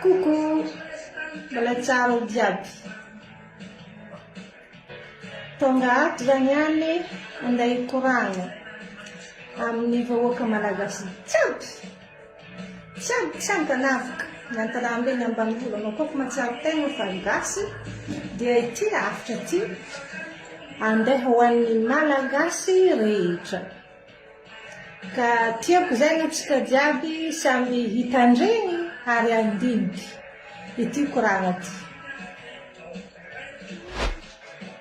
Coucou Mbola tsara ao jiaby Tonga ato zany ihany andeha hikoragna amin'ny vahoaka malagasy jiaby Tsang tsang an'avoka miantalambe ny ambanivolo anao koa fa matsiaro tegna fa gasy dia ity rafitra ity andeha ho an'ny malagasy rehetra ka tiako zay no tsika jiaby samy hitandregny ary handiniky ity koragna ty.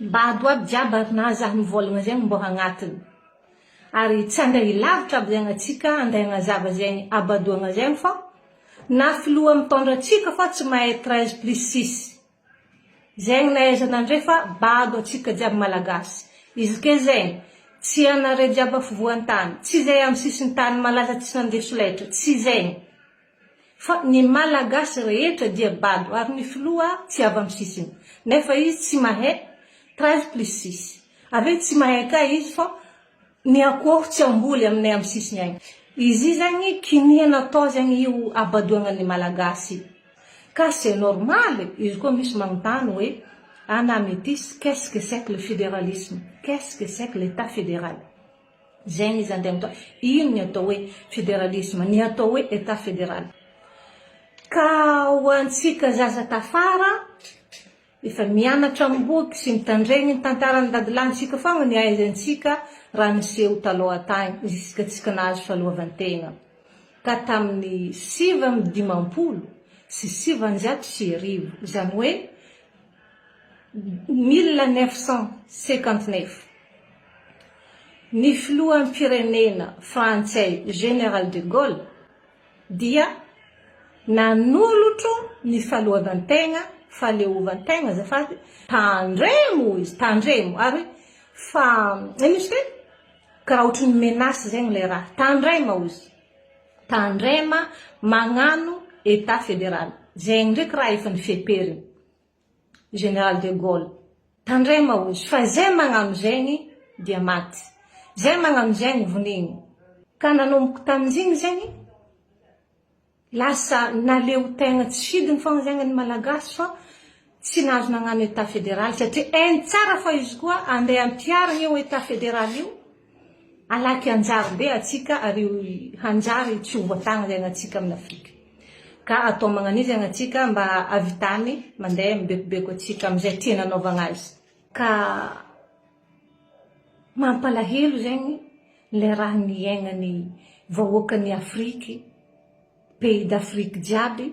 Mba ado aby jiaby ary na aza ny volagna zegny mbô agnatiny ary tsy andray ilavitra aby zegny atsika andray agnazava zegny abo adoagna zegny fô na filoha mitondra atsika fô tsy mahay treize plus six zegny na aiza na ndray fa bado atsika jiaby malagasy izy ke zegny tsy anare jiaby afovoantany tsy zay amy sisintany malaza tsy nandeha solaitra tsy zegny Fa ny malagasy rehetra dia bado ary ny filoha tsy avy am sisiny nefa izy tsy mahay treize plus six avy eo tsy mahay kay izy fa ny akoho tsy amboly aminay am sisiny any izy zegny kinia natao zegny io abadoagna ny malagasy ka c'est normal izy koa misy magnotany hoe ana metis qu'est ce que c'est que le federalisme qu'est ce que c'est que l'etat federal Zegny izy andeha mita ino ny atao hoe federalisme, ny atao hoe etat federal. Ka ho antsika zaza tafara efa mianatra am boky sy mitandregny ny tantaran'ny dadilahintsika fogna ny ahaizantsika raha niseho taloha tagny ziska tsika nahazo fahaloavantegna ka tamin'ny sivy amby dimampolo sy sivanjato sy arivo, zany hoe Mille neuf cent cinquante neuf, ny filoham-pirenena frantsay Général de Gaulle dia nanolotra ny fahaloavan-tegna, fahaleovan-tegna azafady, tandremo hoy izy, tandremo, ary hoe fa, ino izy ity? karaha ohatry ny menace zegny ilay raha, tandrema hoy izy. Tandrema magnano etat federal zegny ndreky raha efa nifeperiny Général de Gaulle. Tandrema ozy fa zay magnano zegny dia maty. Zay magnano zegny vonigny. Ka nanomboky tamin'izigny zegny lasa naleo tegna tsy sidiny fôgna zegny ny Malagasy fa Tsy nahazo nagnano Etat Federal satria hainy tsara fa izy koa andeha hampiharigna io Etat Federal io, halaky hanjary be atsika ary io hanjary tsy ho voatagny zegny atsika aminy Afrika. Ka atao magnanio zegny atsika mba havitany mandeha mibekobeko atsika amizay tia nanaovagna azy. Ka mampalahelo zegny le raha niaignany vahoakany Afriky, pays d'Afrique jiaby,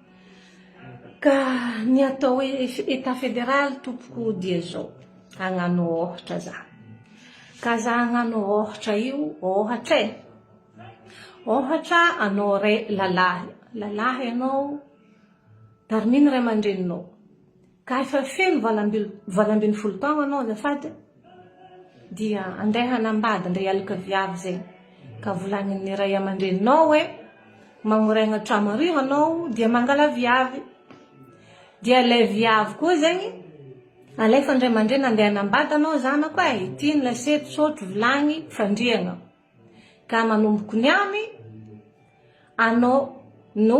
Ka ny atao hoe Etat Fédéral tompoko dia izao, hagnano ôhatra za. Ka za hagnano ôhatra io, ôhatra e, ôhatra anao ray lalahy, lalahy anao, tarimino ray aman-dreninao, Ka efa feno valo ambin'ny valo ambin'ny folo taogna anao azafady dia andeha hanambady ndray alika viavy zay ka volagnin'ny ray aman-dreninao hoe magnoregna tragno aroy hanao dia mangala viavy dia ilay viavy koa zegny alefa ndray aman-dreny andeha hanambady anao zanako eh ity ny lasety sotro vilagny fandriagna ka manomboko niany anao no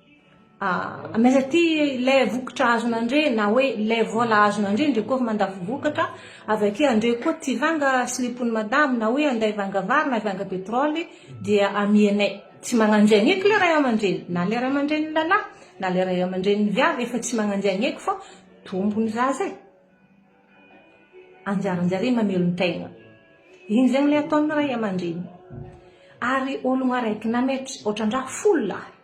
Ah, mais aty le vokatra azon' andre na hoe le vola azon' andre ndre koa mandafo vokatra, avy aty andre koa tsy vanga slipon' ny madamo na hoe andeha hivanga vary na hivanga petrole dia amianay. Tsy magnanjia ny eky le ray aman-dreny, na le ray aman-dreny lalahy na le ray aman-dreny vavy efa tsy magnanjia ny eky fa tombony zaza e! anjaranjare mamelon-tegna, iny zegny le ataon'ny ray aman-dreny ary ologno araiky na mety otran-draha folo lahy.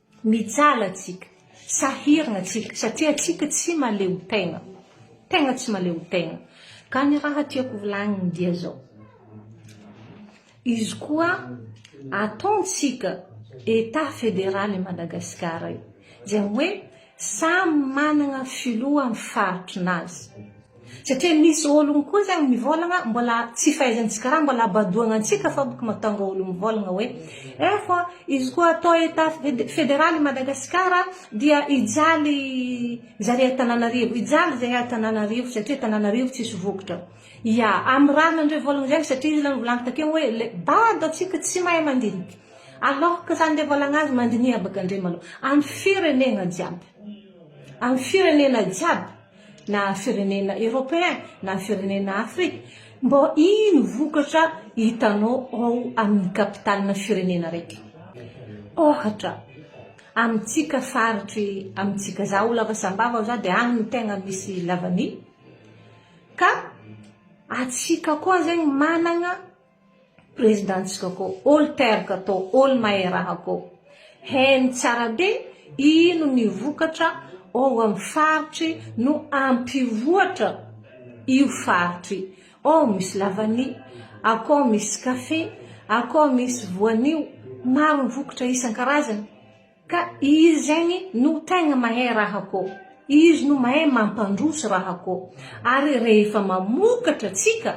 Mijaly atsika, sahirana atsika satria atsika tsy maleo tegna, tegna tsy maleo tegna, ka ny raha tiako volagniny dia zao, izy koa ataontsika Etat federaly i Madagasikara io dia hoe samy managna filoha amin'ny faritry nazy, Satria misy ologno koa zegny mivolagna mbola tsy fahaizantsika raha mbola abadoagna antsika fogna ko mahatonga olo mivolagna hoe eh fa izy koa atao etat federal i Madagasikara dia hijaly zare à Tananarivo hijaly zare à Tananarivo satria Tananarivo tsisy vokatra ya amy raha nandre volagna zegny satria izy aloha nivolagny takeo hoe le bado atsika tsy mahay mandinika alors que zany le volagna azy mandiniha baka ndre malou amy firenegna jiaby amy firenena jiaby na firenena europeen na firenena afrika mbô ino vokatra hitanao ao amin'ny capitalina firenena raiky ôhatra amintsika faritry amintsika za ho lava sambava ao za de agny no tegna misy lavani ka atsika koa zegny managna Prezidantsika ko olo teraka to olo mahay raha ko heno tsara be ino ny vokatra ao amin'ny faritry no ampivoatra io faritry ao misy lavani akao misy kafe akao misy voanio maro ny vokatra isan-karazany ka izy zegny no tegna mahay raha ko izy no mahay mampandroso raha ko ary rehefa mamokatra tsika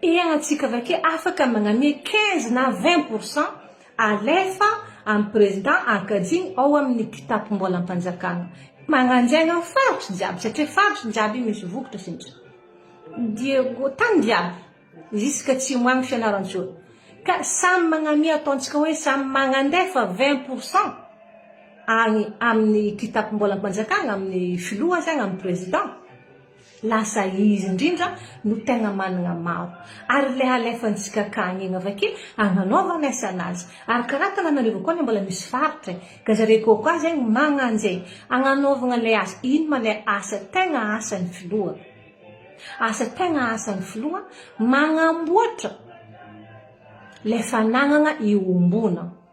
Iarahantsika avake afaka magnamia 15 na 20 pour cent alefa an'i Prezida ankajiany ao amin'ny kitapom-bolam-panjakana. Magnanjaina faritry jiaby satria faritry jiaby misy vokitra sintsy dia tany jiaby zisk'atsimo any Fianarantsoa. Ka samy magnamia ataontsika hoe samy magnandefa 20 pour cent agny amin'ny kitapom-bolam-panjakana, amin'ny filoha zany, amin'ny Prezida. Lasa izy indrindra no tegna managna maro. Ary le alefantsika ka agny igny avake agnanaovagna asana azy. Ary karaha tananarivo koa anie mbola misy faritra e. Ka zare koa koa zegny magnanje agnanaovagna le asa. Ino ma le asa tegna asan'ny filoha? Asa tegna asan'ny filoha magnamboatra le fanagnagna iombona.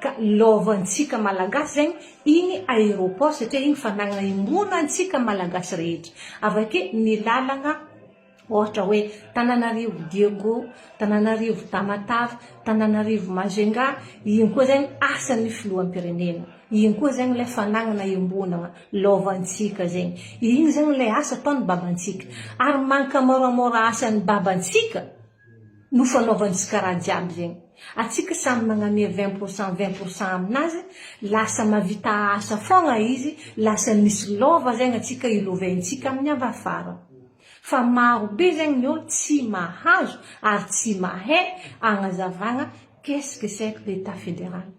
Ka love antsika malagasy zegny igny aeroport satria igny fanagna imoana antsika malagasy rehetra avake ny lalagna ohatra hoe tananarivo diego tananarivo tamatave tananarivo majunga igny koa zegny asan'ny filohampirenena igny koa zegny lay fanagnana iombonagna love antsika zegny igny zegny lay asa ataony babantsika ary mankamôramôra asan'ny babantsika no fanaovantsika raha jiaby zegny atsika samy magname vingt pour cent vingt pour cent aminazy lasa mavita asa fôgna izy lasa misy lova zegny atsika iloventsika aminy avy afara fa maro be zegny ny olo tsy mahazo ary tsy mahay agnazavagna qu'est ce que c'est que l'etat federal.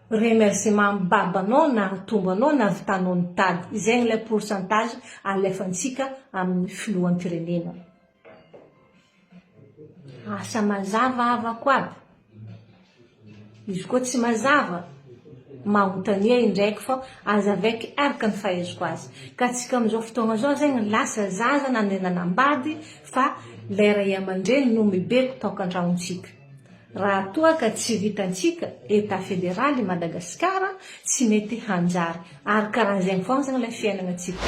Remerciement mbaba anao nahatombo anao nahavitanao nitady zegny lay pourcentage alefantsika amin'ny filohampirenena. Asa mazava havako aby. Izy koa tsy mazava manontania indraiky fa aza avec araka ny fahaiziko azy. Ka antsika amin'izao fotoagna zao zegny lasa zaza nandeha nanambady fa lay ray aman-dreny no mibeko taokan-tragnon-tsika. Raha toa ka tsy vitantsika Etat Fédéral i Madagasikara tsy mety hanjary ary karan'izegny foagna zany ilay fiainagna tsika.